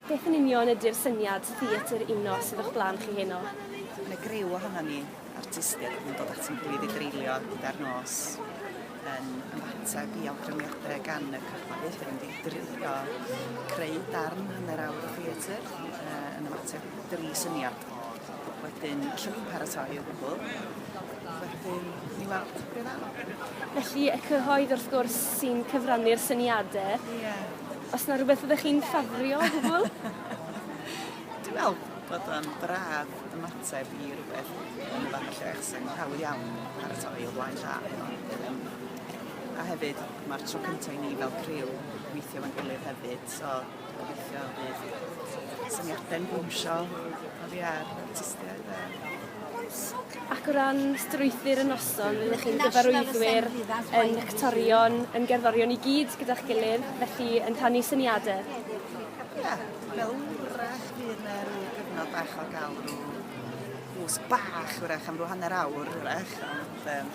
Beth yn union ydy'r syniad theatr uno sydd o'ch blaen chi heno? Mae 'na griw ohonon ni, artistiaid, yn dod at ein gilydd i dreulio gyda'r nos yn ymateb i awgrymiadau gan y cyhoedd. Dyn ni'n mynd drio creu darn hanner awr o theatr yn ymateb dri syniad. Wedyn, allwn ni'n paratoi o gwbl. Wedyn, ni weld beth ddaw. Felly, y cyhoedd wrth gwrs sy'n cyfrannu'r syniadau. Ie. Yeah. Os 'na rwbeth fyddech chi'n ffafrio o gwbwl? Dwi me'wl bod o'n braf ymateb i rwbeth yn y fath o lle achos yn hawdd iawn paratoi o flaen llaw Yym a hefyd ma'r tro cynta' i ni fel criw weithio efo'n gilydd hefyd so gobeithio bydd syniade'n bownsio oddi ar artistiaid a Ac o ran strwythur y noson, rydych chi'n gyfarwyddwyr, yn actorion, yn gerddorion i gyd gyda'ch gilydd, felly yn rhannu syniade. Ia, fel 'w'rach fydd 'na ryw gyfnod bach o ga'l ryw gwsg bach 'w'rach am ryw hanner awr 'w'rach ond yym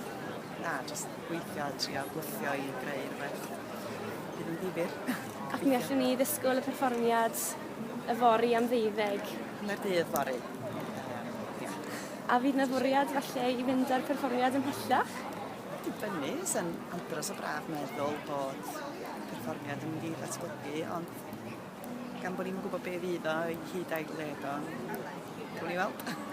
na jyst gweithio a trio gwthio i greu rwbeth fydd yn ddifyr. Ac mi allwn ni ddisgwl y perfformiad yfory am ddeuddeg. Hanner dydd fory. A fydd 'na fwriad falle i fynd â'r perfformiad ymhellach? Dibynnu, sa'n andros o braf meddwl bod perfformiad yn mynd i ddatblygu, ond gan bod ni'm yn gwybod be fydd o, hyd ail led o, gawn ni weld.